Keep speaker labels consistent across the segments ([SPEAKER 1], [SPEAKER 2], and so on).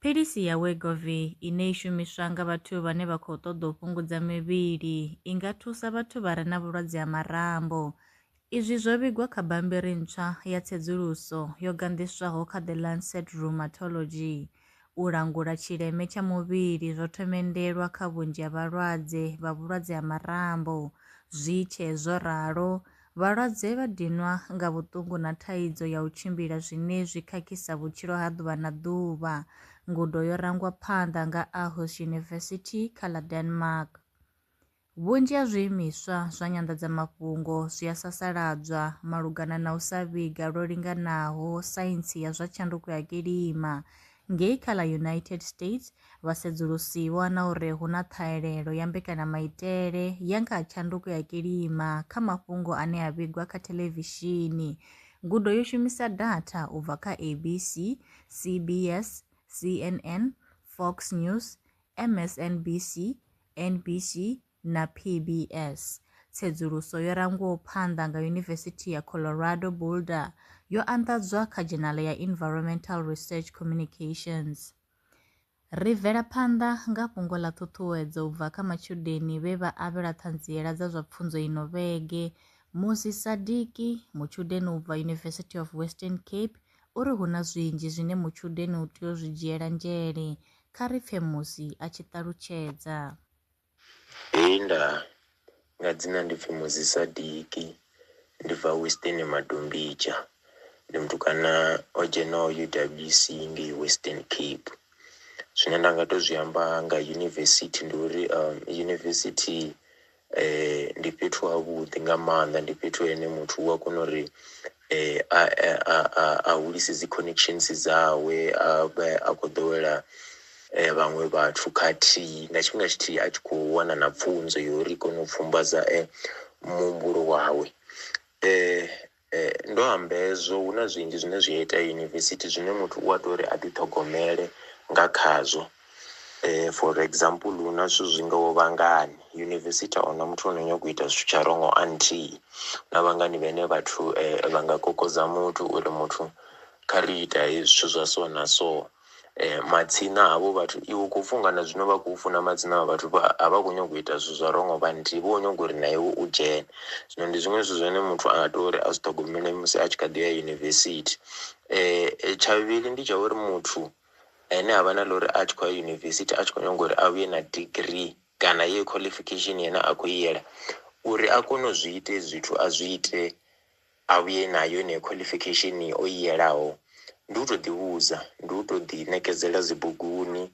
[SPEAKER 1] Philisi ya Wegovy ine i shumiswa nga vhathu vhane vha khou ṱoḓa u fhungudza mivhili i nga thusa vhathu vha re na vhulwadze ha marambo. Izwi zwo vhigwa kha bammbiri ntswa ya tsedzuluso yo ganḓiswaho kha The Lancet Rheumatology. U langula tshileme tsha muvhili zwo thomendelwa kha vhunzhi ha vhalwadze vha vhulwadze ha marambo. Zwi tshee zwo ralo, Vhalwadze vha dinwa nga vhuṱungu na thaidzo ya u tshimbila zwine zwi khakhisa vhutshilo ha ḓuvha na ḓuvha. Ngudo yo rangwa phanḓa nga Aarhus University kha ḽa Denmark. Vhunzhi ha zwiimiswa zwa nyanḓadzamafhungo zwi a sasaladzwa malugana na u sa vhiga lwo linganaho saintsi ya zwa tshanduko ya kilima Ngei kha ḽa United States, vhasedzulusi vho ana uri hu na ṱhahelelo ya mbekanyamaitele ya nga ha tshanduko ya kilima kha mafhungo ane a vhigwa kha thelevishini. Ngudo yo shumisa datha u bva kha ABC, CBS, CNN, Fox News, MSNBC, NBC, na PBS. Tsedzuluso yo rangwaho phanḓa nga Yunivesithi ya Colorado Boulder yo anḓadzwa kha dzhenala ya Environmental Research Communications. Ri bvela phanḓa nga fhungo ḽa ṱhuṱhuwedzo u bva kha matshudeni vhe vha avhelwa ṱhanziela dza zwa pfunzo ino vhege. Musi Sadiki, mutshudeni u bva University of Western Cape, u ri hu na zwinzhi zwine mutshudeni u tea u zwi dzhiela nzhele. Kha ri pfe Musi a tshi ṱalutshedza. Hei nda,
[SPEAKER 2] nga dzina ndi pfi Muzi Sadiki, ndi bva Western Madombidzha, ndi mutukana o dzhenaho UWC ngei Western Cape. Zwine nda nga to zwi amba nga yunivesithi ndi uri yunivesithi ndi fhethu ha vhuḓi nga maanḓa ndi fhethu hene muthu u a kona uri a a a a hulise dzi connections dzawe a vhe a khou ḓowela vhaṅwe vhathu khathihi nga tshifhinga tshithihi a tshi khou wana na pfunzo ya uri i kone u pfhumbadza muhumbulo wawe ndo amba hezwo hu na zwinzhi zwine zwi a itea yunivesithi zwine muthu u a tea uri a ḓiṱhogomele nga khazwo. For example hu na zwithu zwi ngaho vhangani yunivesithi a huna muthu ano nyaga u ita zwithu tsha wrong until na vhangani vhane vhathu vha nga kokodza muthu uri muthu kha ri ita hezwi zwithu zwa so na so. Matsina havho vhathu iwe u khou funga na zwino vha khou funa madzina a vhathu vha a vha khou nyanga u ita zwithu zwa wrong vha nthihi vho nyaga uri na iwe u dzhene zwino ndi zwiṅwe zwithu zwine muthu a tea uri a zwi ṱhogomele musi a tshi kha ḓi ya yunivesithi. Tsha vhuvhili ndi tsha uri muthu ane a vha na ḽa uri a tshi khou ya yunivesithi a tshi khou nyanga uri a vhuye na degree kana yeyo qualification yena a khou i yela uri a kone u zwi ite zwithu a zwi ite a vhuye nayo yeneyo qualification o i yelaho ndi u tou ḓivhudza ndi u tou ḓi ṋekedzela dzi buguni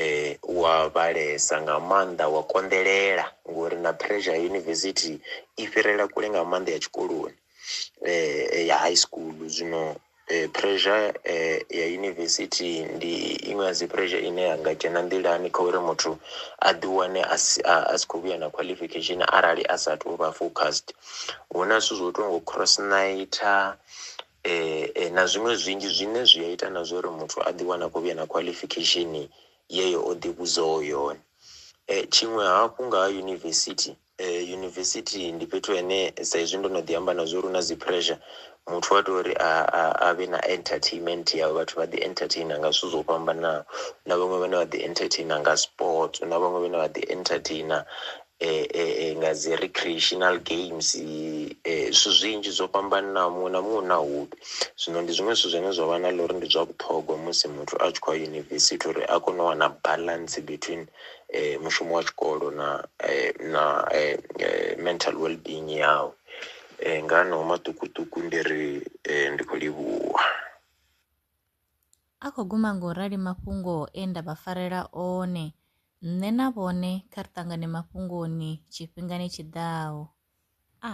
[SPEAKER 2] um wa vhalesa nga maanḓa wa konḓelela ngori na pressure ya yunivesithi i fhirela kule nga maanḓa ya tshikoloni. eh, ya high school zwino eh, pressure eh, ya university ndi iṅwe ya dzi pressure ine ya nga dzhena nḓilani kha uri muthu a ḓi wane a si a- a si khou vhuya na qualification arali a sa tou vha focused hu na zwithu zwo tongo cross nighta eh, eh, na zwiṅwe zwinzhi zwine zwi a ita na zwa uri muthu a ḓi wana a khou vhuya na qualification yeyo o ḓi vhudzaho yone Eh, tshiṅwe hafhu nga ha yunivesithi Yunivesithi ndi fhethu hene sa izwi ndo no ḓi amba na zwa uri hu na dzi pressure muthu wa tea uri a a a vhe na entertainment yawe vhathu vha ḓi entertainer nga zwithu zwo fhambanaho hu na vhaṅwe vhane vha ḓi entertainer nga sports hu na vhaṅwe vhane vha ḓi entertainer nga dzi recreational games zwithu zwinzhi zwo fhambanaho muṅwe na muṅwe u na hobby. Zwino ndi zwiṅwe zwithu zwine zwa vha na ḽa uri ndi zwa vhuṱhogwa musi muthu a tshi khou ya yunivesithi uri a kone u wana balance between mushumo wa tshikolo na na mental well being yawe nga haneyo maṱukuṱuku ndi ri ndi khou livhuwa.
[SPEAKER 1] A khou guma ngo rali mafhungo e nda vha farela one. Nṋe na vhone kha ri ṱangane mafhungoni tshifhingani tshi ḓaho. A.